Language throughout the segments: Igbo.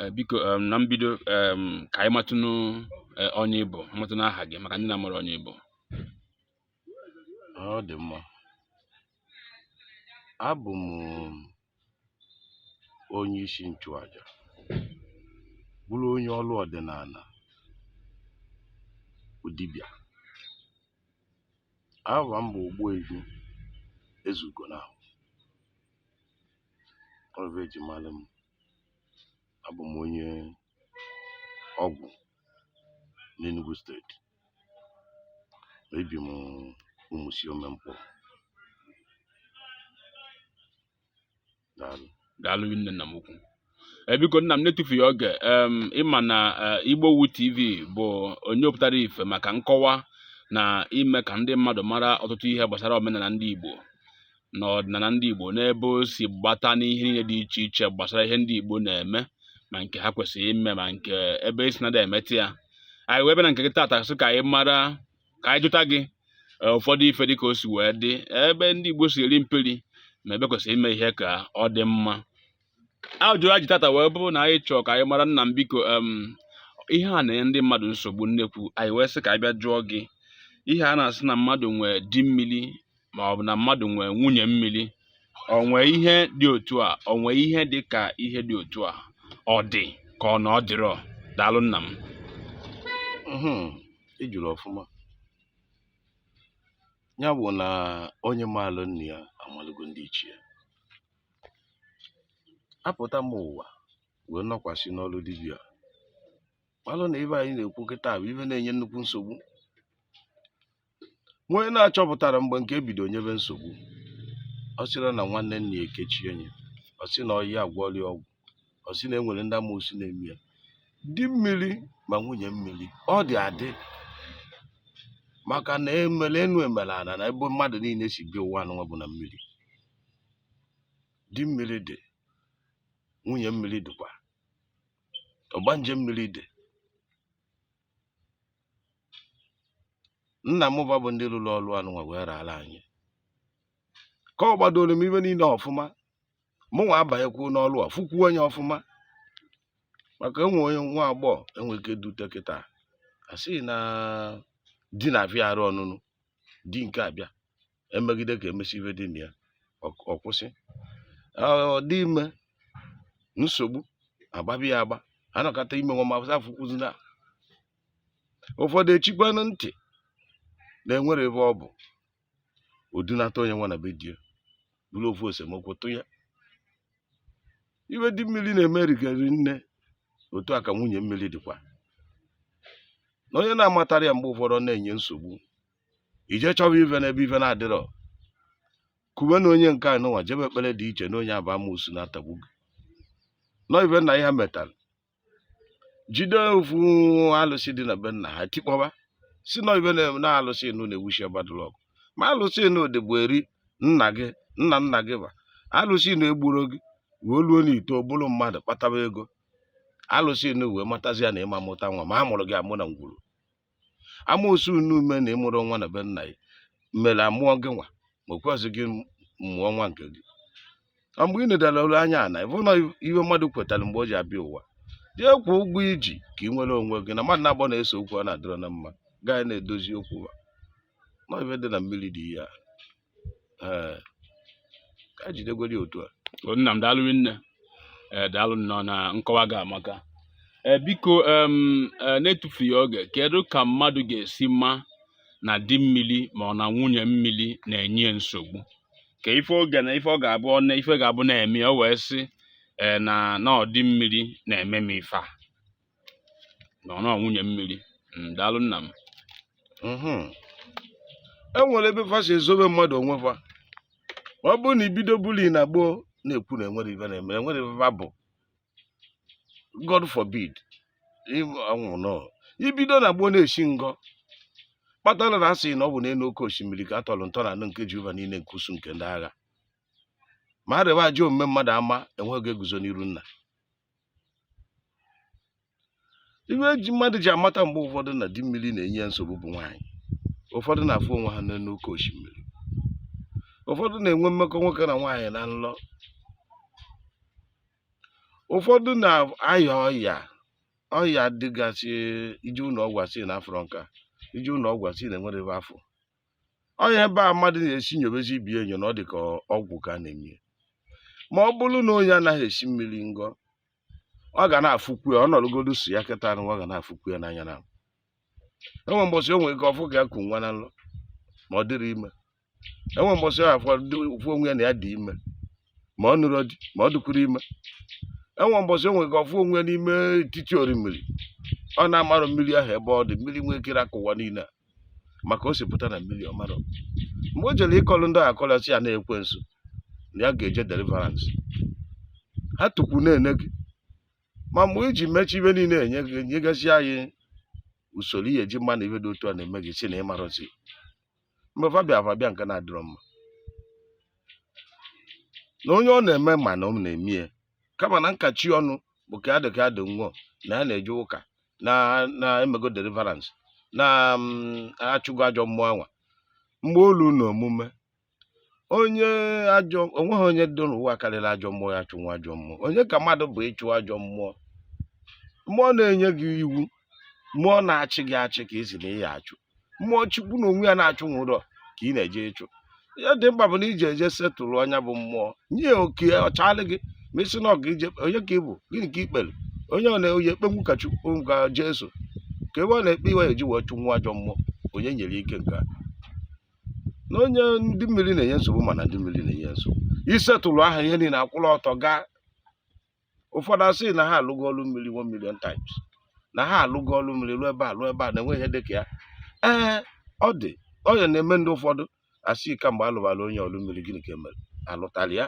Eh, biko em, na mbido em, ka anyị matụnụ eh, onye ị bụ matụnụ aha gị maka ndị na-amarọ onye ị bụ ọ dị mma abụ m onye isi nchụaja bụrụ onye ọrụ ọdịnala dibịa aha m bụ Ogbuefi Ezugonahụ ọ bụ e ji mara m abụ m onye Ọgwụ n'Enugu steeti ebi m Ụmụsiome Nkpọ daalụ daalụ rinne nna m ukwu Eh, biko nna m n'etufughị oge em, ị ma na eh, Igbowood TV bụ onye pụtara ife maka nkọwa na ime ka ndị mmadụ mara ọtụtụ ihe gbasara omenala ndị igbo na ọdịnala ndị Igbo n'ebe o si gbata n'ihe niile dị iche iche gbasara ihe ndị Igbo na-eme ma nke ha kwesịrị ime ma nke ebe e si na-ada emeta ya anyị wee bịa na nke gị taata sị ka anyị mara ka anyị jụta gị e, ụfọdụ ife dị ka o si wee dị ebe ndị Igbo si eri mperi ma ebe kwesịrị ime ihe ka ọ dị mma ajụjụ anyị ji tata wee bụrụ na anyị chọọ ka anyị mara nna m biko ihe a na-enye ndị mmadụ nsogbu nnekwu anyị wee sị ka anyị bịa jụọ gị ihe a na-asị na mmadụ nwee di mmiri ma ọ bụ na mmadụ nwee nwunye mmiri o nwe ihe dị otu a o nwe ihe dị ka ihe dị otu a ọ dị ka ọ na ọ dịrọ daalụ nna m ị jụrụ ọfụma ya bụ na onye maalụ nna ya amalụgo ndị ichie apụta m ụwa wee nọkwasị n'ọrụ dibịa malụ na ive anyị na-ekwu kịta bụ ive na-enye nnukwu nsogbu onye na-achọpụtarọ mgbe nke e bido nyebe nsogbu ọ sịrị na nwanne nna ya ekechie nye ọ sị na ọyị agwọli ọgwụ ọ sị na e nwere ndị amoosu na-eme ya di mmiri ma nwunye mmiri ọ dị adị maka na e mere enu e mere ana na ebe mmadụ niile si bịa ụwa anụnwa bụ na mmiri di mmiri dị nwunye mmiri dịkwa ọgbanje mmiri dị nna m va bụ ndị rụrụ ọrụ anụnwa wee raara anyị kọgbadoro m ive niile ọfụma mụnwa abanyekwu n'ọlụ a fụkwuo nye ọfụma maka enwe onye nwa agbọghọ enwe ike dute kịta a sị na di na-abịara ya ọnụnụ di nke abịa emegide ka emesi ive dị na ya ọ kwụsị ọ dị ime nsogbu agbabi ya agba anọkata ime nwa mafụsa afụkwuzi na ụfọdụ echikwanụ ntị na enwere ebe ọ bụ o dunata onye nwa na be di ya bụrụ ofu esemokwu tụ ya ive di mmiri na-eme rigari nne otu a ka nwunye mmiri dịkwa na onye na-amatarọ ya mgbe ụfọdụ ọ na-enye nsogbu i je chọba ive n'ebe ive na-adịrọ kwube na onye nke anụnwa jebe ekpere dị iche na onye a bụ amoosu na-atagbu gị nọ ive nna ya metara jide ofu alụsị dị na be nna ha tikpọba sị na ive na-eme na alụsị nụ na-ewuchi bad luck ma alụsị nụ dịbu eri nna gị nna nna gị ba alụsị nụ egburo gị wee luo na i too bụlụ mmadụ kpataba ego alụsị nụ wee matazie na ị ma-amụta nwa ma a mụrụ gị amụ na ngwuru amoosu unu ume na ị mụrụ nwa na be nna ya mere amụọ gị nwa ma o kwezi gị mụọ nwa nke gị ọ mgbe ị nedara olu anya na ị fụ na ihe mmadụ kwetara mgbe o ji abịa ụwa jee kwụọ ụgwọ i ji ka ị nwere onwe gị na mmadụ na agbọ na-ese okwu ọ na-adịrọ na mma gaa na-edozi okwu ha na ive dị na mmiri dị ihe a ee ka anyị jidegodi otu a O, nna m daalụ nne ee daalụ nnọọ na nkọwa gị amaka ee biko em, ee, na-etufughị oge kedu ka mmadụ ga-esi ma na di mmiri ma ọ na nwunye mmiri na-enye ya nsogbu kee ife ọ ga na ife ọ ga-abụ ọ na ife ga-abụ na-eme ya, o wee sị ee na na ọ di mmiri na-eme m ife a na ọ nwunye mmiri Mm, daalụ nna m Mhm. e nwere ebe fa si ezobe mmadụ onwe fa ọ bụrụ na i bido buli na gboo na-ekwu na enwere ife na-eme enwere ife fa bụ god forbid ịbụ- ọnwụ nọ i bido na gboo na-esi ngọ kpatara na asị na ọ bụ n'elu oke osimiri ka a tọrọ ntọ na anụ nke jehova niile nke usuu nke ndị agha ma a rịba ajọ omume mmadụ ama onye ga-eguzo n'iru nna ive e ji mmadụ ji amata mgbe ụfọdụ na di mmiri na-enye ya nsogbu bụ nwaanyị ụfọdụ na-afụ onwe ha n'elu oke osimiri ụfọdụ na-enwe mmekọ nwoke na nwaanyị na nlọ ụfọdụ na-aya ọya ọya dịgasị i je ụlọ ọgwụ asị na afụrọ nka i je ụlọ ọgwụ asị na enwerọ ebe afụ ọ ya ebe a mmadụ na-esi nyobezi ibe enyo na ọ dị ka ọgwụ ka a na-eme ma ọ bụrụ na onye anaghị esi mmiri ngọ ọ ga na-afụkwu ya ọ nọrọgodu so ya kịta anụ ọ ga na-afụkwu ya n'anya na enwe mbọsị o nwere ike ọ fụ ka ya ku nwa na nlọ ma ọ dịrọ ime enwe mbọsị ọ fụ onwe ya na ya dị ime ma ọ nụrọ di ma ọ dịkwurọ ime enwe mbọsị o nwe ka ọ fụ onwe n'ime etiti orimiri ọ na-amarọ mmiri ahụ ebe ọ dị mmiri nwee ike ịrakụ ụwa niile a maka o si pụta na mmiri ọ marọ mgbe o jere ịkọlụ ndị ahụ akọlụ sị ya na ekwensu na ya ga-eje deliverance ha tukwu na-ene gị ma mgbe i ji mechie ive niile enye gị nyegasị anyị usoro ihe eji ama na ive dị otu a na-eme gị sị na ị marọzi mgbe fa bịara fa bịa nke na-adịrọ mma na onye ọ na-eme ma na ọ na-eme ya kama na nkachi ọnụ bụ ka adị ka adị nwụọ na ya na-eje ụka na emego deliverance na mm, achụgo ajọ mmụọ anwa mgbe olu na omume onye ajọ onweghị onye dị n'ụwa karịrị ajọ mmụọ ya achụnwu ajọ mmụọ onye ka mmadụ bụ ịchụ ajọ mmụọ mmụọ na-enye gị iwu mmụọ na-achị gị achị ka ị sị na ị ya achụ mmụọ chukwu na onwe ya na-achụnwurọ ka ị na-eje ịchụ ihe dị mkpa bụ na i je eje settle nya bụ mmụọ nye oke ọ chaalị gị ma ị sị na ọga ije onye ka ị bụ gịnị ka i kpere onye ọ na-eyi ekpenwu ka chukwu ka jesu ka ebe ọ na-ekpe ihe eji wee chụnwu ajọ mmụọ onye nyere ike nke a na onye ndị mmiri na-enye nsogbu mana ndị mmiri na-enye nsogbu ị settle ha ihe niile akwụrụ ọtọ gaa ụfọdụ asị na ha alụgo ọrụ mmiri one million times na ha alụgo ọrụ mmiri lụọ ebe a lụọ ebe a na enwe ihe dịka ya ee ọ dị ọ ya na-eme ndị ụfọdụ asị kamgbe alụbara onye ọrụ mmiri gịnị ka emere alụtara ya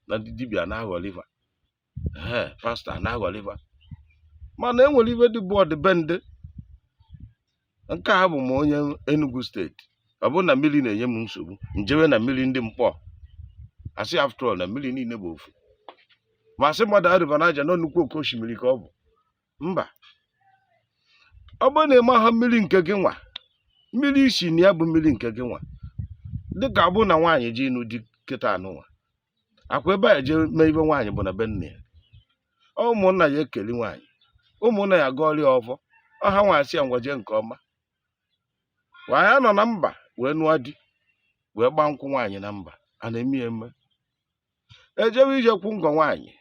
na ndị dibịa na-aghọlị va ee pastor na-aghọlị va mana enwere ihe dị bụ ọdịbendị nke a bụ m onye Enugu steeti ọ bụrụ na mmiri na-enye m nsogbu m jewe na mmiri ndị Nkpor asị after all na mmiri niile bụ ofu ma asị mmadụ alụba Niger na nnukwu oke osimiri ka ọ bụ mba ọ bụrụ na ị maha mmiri nke gị nwa mmiri i si na ya bụ mmiri nke gị nwa dịka ọ bụrụ na nwaanyị je ịnụ di kịta anụnwa ọ kwa ebe e je eme ihe nwaanyị bụ na be nna ya ụmụnna ya ekeli nwaanyị ụmụnna ya gọọrọ ya ọfọ hanwa asị ya ngwa jee nke ọma nwaanyị anọ na mba wee nụọ di wee gbaa nkwụ nwaanyị na mba a na-eme ya eme ejewe ije kwụ ngọ nwaanyị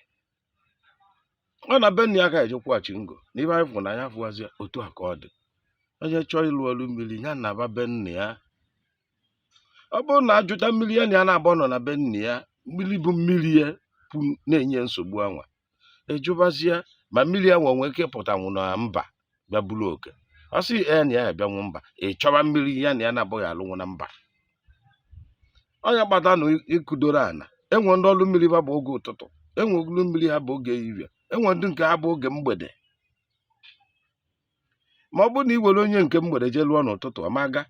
ọ na be nna ya ka eje akwụghachi ngọ na ihe anyị fụrụ n'anya fụwazi otu a ka ọ dị onye chọọ ịlụ ọrụ mmiri ya naba be nna ya ọ bụrụ na ajụta mmiri ya na ya na-abụ nọ na be nna ya mmiri bụ mmiri ya pu na-enye nsogbu anwa ajụbazie ma mmiri anwa nwe ike ịpụtanwu na mba bịa buru oke ọ sị ya na ya abịanwu mba ị chọwa mmiri ya na ya na-abụghị alụnwu na mba ọ nya kpata na ịkụdoro ana enwe ndị ọrụ mmiri ha bụ oge ụtụtụ enwe ọlụ mmiri ha bụ oge ehihie enwe ndị nke ha bụ oge mgbede ma ọ bụrụ na i were onye nke mgbede jee lụọ n'ụtụtụ ọ ma aga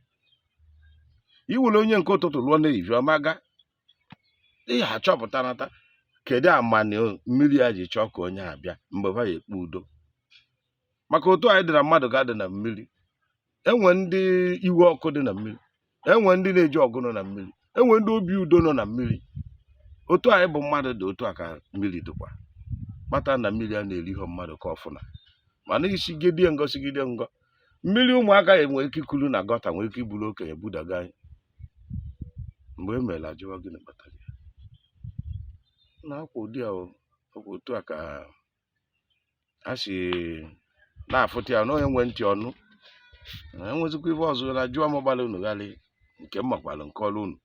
i were onye nke ụtụtụ lụọ n'ehihie ọ ma aga ị ya achọpụtanata kedu amanị mmiri a ji chọọ ka onye a bịa mgbe ha ya ekpe udo maka otu anyị dị na mmadụ ka adị na mmiri enwe ndị iwe ọkụ dị na mmiri enwe ndị na-eji ọgụ nọ na mmiri enwe ndị obi udo nọ na mmiri otu anyị bụ mmadụ dị otu a ka mmiri dịkwa kpata na mmiri a na-eri ihe mmadụ ka ọfụna mana i sigidie ngọ sigide ngọ mmiri ụmụaka nwere ike ikulu na gutter nwere ike iburu okenye budaga anyịm mgbe e mere ajụwa gịnị kpatara ya na akwa ụdị a otu a ka a si na-afụta ya na onye nwe ntị ọ nụ na enwezikwa ife ọzọ na jụọ m gbara unu ghalị nke m makwara m kọọrụ unu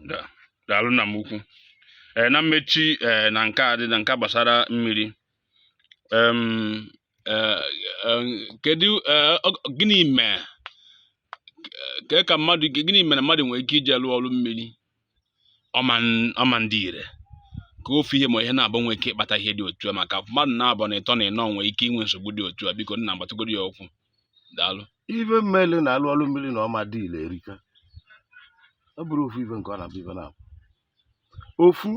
Da- daalụ nna m ukwu ee na mmechi ee na nke a dị na nke a gbasara mmiri em ee em, kedu ee, ọ- gịnị mee ka ka mmadụ gịnị mere mmadụ nwere ike ije lụọ ọrụ mmiri ọ ma adị ire ka ofu ihe ma ihe naabọ nwee ike ịkpata ihe dị otu a maka mmadụ naabọ na ịtọ na ịnọ nwee ike inwe nsogbu dị otu a biko nna m gbatagodu ya okwu daalụ ife mele na alụọ ọrụ mmiri na ọ ma adị ire erika ọ bụrọ ofu ife nke ọ na-abụ ife naabọ ofu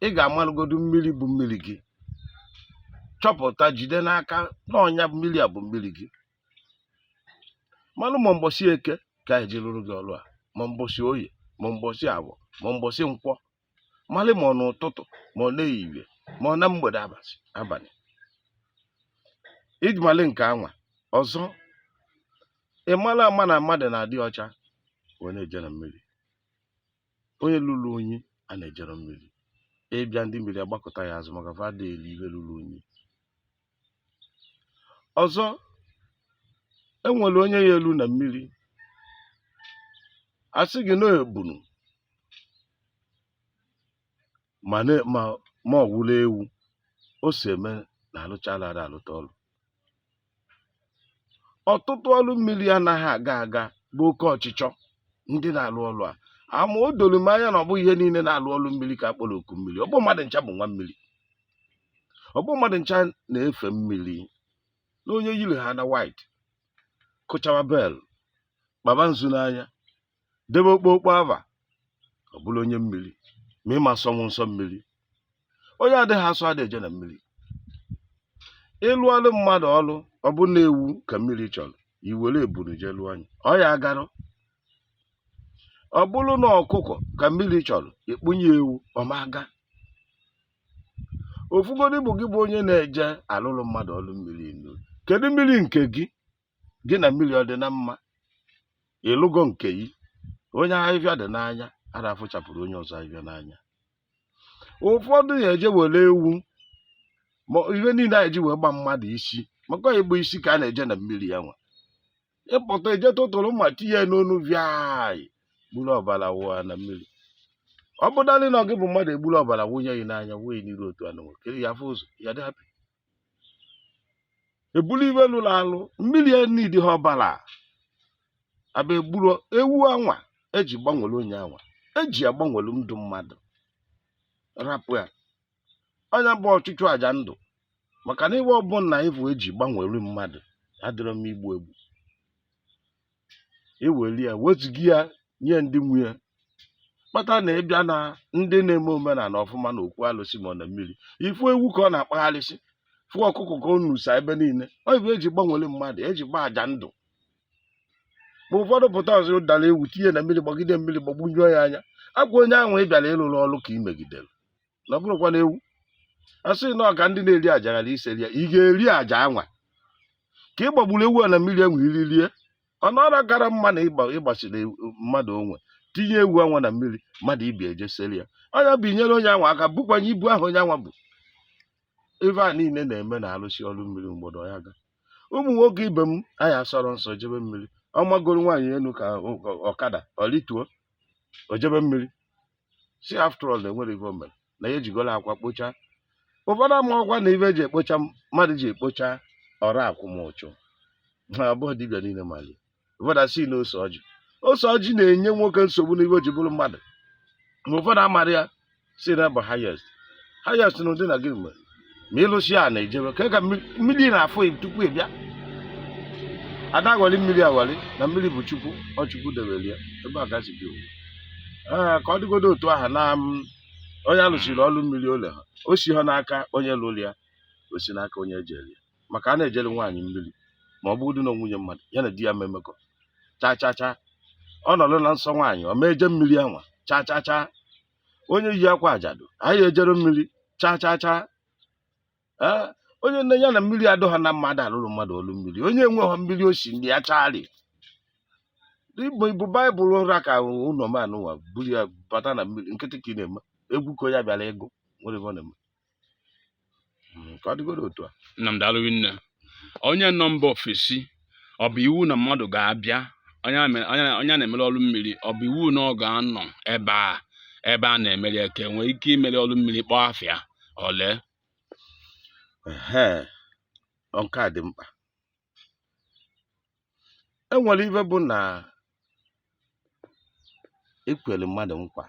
ị ga-amalụgodu mmiri bụ mmiri gị chọpụta jide n'aka na ọ nya mmiri a bụ mmiri gị malụ ma mbọsị eke ka a ya-eji rụrụ gị ọrụ a ma mbọsị oye ma mbọsị afọ ma mbọsị nkwọ malị ma ọ n'ụtụtụ ma ọ n'ehihie ma ọ na mgbede abalị iji malị nke anwa ọzọ ị mara ama na mmadụ na-adị ọcha wee na-eje na mmiri onye lụrụ unyi a na-ejerọ mmiri ị bịa ndị mmiri agbakụta gị azụ maka fa adị eri ihe lụrụ unyi ọzọ e nwere onye ya-elu na mmiri a sị gị na ebunu ma na- ma ma ọ welụ ewu o si eme na alụchala ada alụta ọlụ ọtụtụ ọlụ mmiri anaghị aga aga bụ oke ọchịchọ ndị na-alụ ọlụ a ama o doro m anya na ọ bụghị ihe niile na-alụ ọlụ mmiri ka a kpọrọ oku mmiri ọ bụ mmadụ ncha bụ nwa mmiri ọ bụ mmadụ ncha na-efe mmiri na onye yiri ha na white kụchawa bell kpaba nzu n'anya debe okpokpo ava ọ bụrụ onye mmiri ma ị ma sọnwu nsọ mmiri onye adịghị asọ adị eje na mmiri ịlụlụ mmadụ ọlụ ọ bụ na ewu ka mmiri chọrọ i were ebunu je lụọ nya ọ ya agarọ ọ bụrụ na ọkụkọ ka mmiri chọrọ i kpụnye ewu ọ ma aga ofugodu bụ gị bụ onye na-eje alụlụ mmadụ ọlụ mmiri inu kedu mmiri nke gị gị na mmiri ọ dị na mma ị lụgo nke gị onye ahịhịa dị n'anya ada afụchapụrụ onye ọzọ ahịhịa n'anya ụfọdụ ya eje were ewu ma ihe niile a ya-eji wee gba mmadụ isi maka ịgba isi ka a na-eje na mmiri ya nwa ịpụta eje tụtụrụ mma tinye n'onu viai gburu ọbara wụa na mmiri ọ bụ dalị na gị bụ mmadụ egburu ọbara wụnye gị n'anya wee n'iru otu anwa kee ị ya-afụ ụzọ ya dị happy ebulu ife lụrụ alụ mmiri ya needịha ọbara abịa egburu ewu anwa eji gbanwere onye anwa eji agbanwere ndụ mmadụ rapụ ya ọ nya bụ ọchụchụ aja ndụ maka na ife ọbụla ị fụ eji gbanwere mmadụ adịrọ mma igbu egbu eweli ya wezụga ya nye ndị nwe ya kpata na ịbịa na ndị na-eme omenala ọfụma na okwu alụsị ma ọ na mmiri ị fụ ewu ka ọ na-akpagharịsị fụ ọkụkọ ka ọ nusa ebe niile ọ bụ eji gbanwere mmadụ eji gba aja ndụ ma ụfọdụ pụta ọ zọdara ewu tinye na mmiri gbagide mmiri gbagbunyụọ ya anya ọkwa onye ahụ ị bịara ịrụrụ ọrụ ka ị megidere na ọ bụrụkwa na ewu a sị na ọ ka ndị na-eri aja ghara iseri ya ị ga-eri aja anwa ka ị gbagburu ewu a na mmiri enwe iri rie ọ nọrọ kara mma na ịgba- ịgbasiri ewu- mmadụ onwe tinye ewu anwa na mmiri mmadụ ibe ị eje seri ya ọ nya bụ i nyere onye anwa aka bukwanye ibu ahụ onye anwa bụ ife a niile na-eme na a rụsịa ọrụ mmiri ụfọdụ ya ga ụmụ nwoke ibe m anyị asọrọ nsọ jebe mmiri ọ magoro nwaanyị elu ka ọ- ọ- ọkada ọ rituo o jebe mmiri sị after all na enwere ife o mere na ya ejigola akwa kpocha ụfọdụ amarọkwa na ife eji ekpocha mmadụ ji ekpocha ọrụ akwụmụchụ ha abụọ dibịa niile malị ya ụfọdụ asị na ose ọjị ose ọjị na-enye nwoke nsogbu n'ife o ji bụrụ mmadụ ma ụfọdụ amara ya sị na ọ bụ highest highest na ụdị na gịnị mere ma ị lụsịa na-ejebe ka ka mmiri na-afụ tupu ị bịa ada aghọli mmiri aghọli na mmiri bụ chukwu ọ chukwu debere ya ebe a ga-asị gị ee ka ọ dịgodo otu aha na onye a lụsịrị ọrụ mmiri o leha o siha n'aka onye lụrụ ya o si n'aka onye ejere ya maka a na-ejere nwaanyị mmiri ma ọ bụrụ na nwunye mmadụ ya na di ya memekọ cha cha cha ọ nọrọ na nsọ nwaanyị ọ ma eje mmiri anwa cha cha cha onye yi akwa ajadu anyị ejere mmiri chaa chaa chaa ee onye nya na mmiri adọha na mma adị alụrụ mmadụ ọlụ mmiri onye enweghị mmiri osi ndị ya chali i bu baịbụl ra ka ụlọ m a nụwa buru ya bata na mmiri nkịtị ka ị na-eme egwu ka onye bịara ịgụ nwere ife ọ na-eme Mm, ka ọ dịgoro otu a nna m daalụ rinne onye nọ mba ofesi ọ bụ iwu na mmadụ ga-abịa onye a mere- onye a- onye a na-emere ọrụ mmiri ọ bụ iwu na ọ ga-anọ ebe a ebe a na-emere ya ka e nwee ike imere ọrụ mmiri kpọọ afa ya o lee Ehe, ọ nke a dị mkpa e nwere ihe bụ na ekwere mmadụ nkwa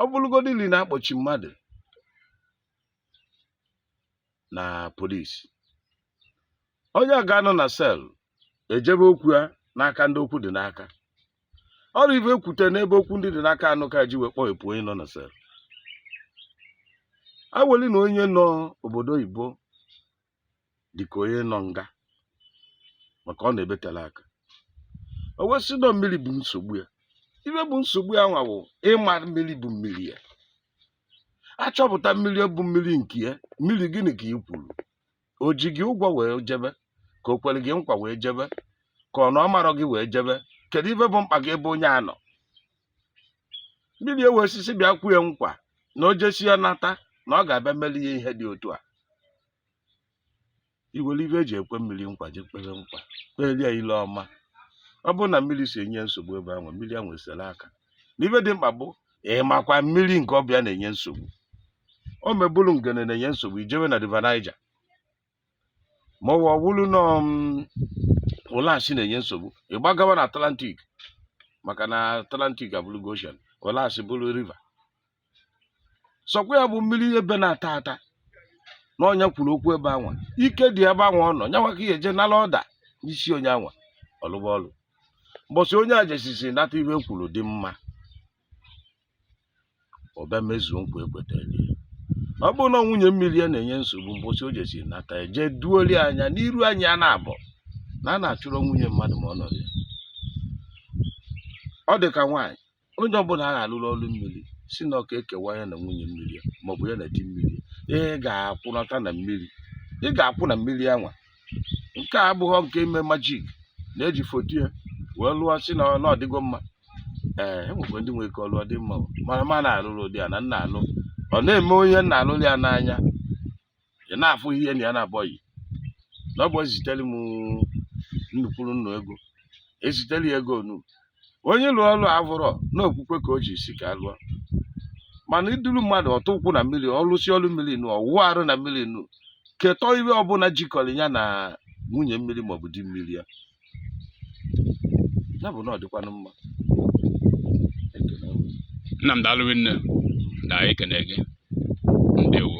ọ bụrụgodị ili na-akpọchi mmadụ na polisi onye a ga-anọ na sel ejebe okwu ya n'aka ndị okwu dị n'aka ọrụ ihe ekwute n'ebe okwu ndị dị n'aka anọ ka e ji wee kpọghepụ onye nọ na sel aweli na onye nọ obodo oyibo dịka onye nọ nga maka ọ nọ ebe tele aka o wee sị na mmiri bụ nsogbu ya ihe bụ nsogbu ya nwa bụ ịma mmiri bụ mmiri ya achọpụta mmiri bụ mmiri nke ya mmiri gịnị ka ị kwuru o ji gị ụgwọ wee jebe ka o kwere gị nkwa wee jebe ka ọ na ọ marọ gị wee jebe kedu ihe bụ mkpa gị ebe onye a nọ mmiri ewe osisi bịa kwe nkwa na o jesịa nata na ọ ga-abịa meli ya ihe dị otu a i were ihe e ji ekwe mmiri nkwa ji kpere nkwa kpelie ya ile ọma ọ bụrụ na mmiri si enye nsogbu ebe anwa mmiri anwa esere aka na ihe dị mkpa bụ ịmakwa mmiri nke ọ bụ ya na-enye nsogbu ọ ma bụrụ Ngene na-enye nsogbu i jewe na river Niger ma ọ wụrụ na um, Ụlasị na-enye nsogbu ị gbagawa na Atlantic maka na Atlantic abụrụgo ocean Ụlasị bụrụ river sọkwa ya bụ mmiri ebe na-ata ata na onye kwuru okwu ebe anwa ike dị ebe anwa ọ nọ nyanwa ka ị ya-eje nala order n'isi onye anwa ọ lụba ọlụ mbọsị onye a jesisi nata ihe kwuru dị mma ọ bịa mezuo nkwa ekwetara ya ọ bụrụ na nwunye mmiri ya na-enye nsogbu mbọsị o jesi nata ya jee duoli anya n'iru anyị a na-abọ na a na-achụrụ nwunye mmadụ ma ọ nọrọ ya ọ dị ka nwaanyị onye ọbụla a ga-alụrụ ọrụ mmiri sị na ka e kewa ya na nwunye mmiri ya maọbụ ya na di mmiri ya ị ga-akwụnata na mmiri ị ga-akwụ na mmiri anwa nke a abụghị nke ime majik na-eji foto ya wee lụọ si na ọ- na ọ dịgo mma ee enwekwa ndị nwere ike ọ lụọ ọ dị mma o. mana m ana-alụrọ ụdị a na m na-alụ ọ na-eme onye m na-alụrụ ya n'anya ị na-afụ ihe na ya na-abọghị na ọ bụ ezitere m nnukwuru nnu ego ezitere ya ego nu onye lụọ ọlụ avụrọ na okwukwe ka o ji sị ka a lụọ mana i duru mmadụ ọ tụọ ụkwụ na mmiri ọ lụsịa ọlụ mmiri nu ọ wụọ arụ na mmiri nu ketọ ihe ọbụla jikọrọ ya na nwunye mmiri maọbụ di mmiri ya ya bụ na ọ dịkwanụ mma nna m daalụ nne na ekene gị ndewo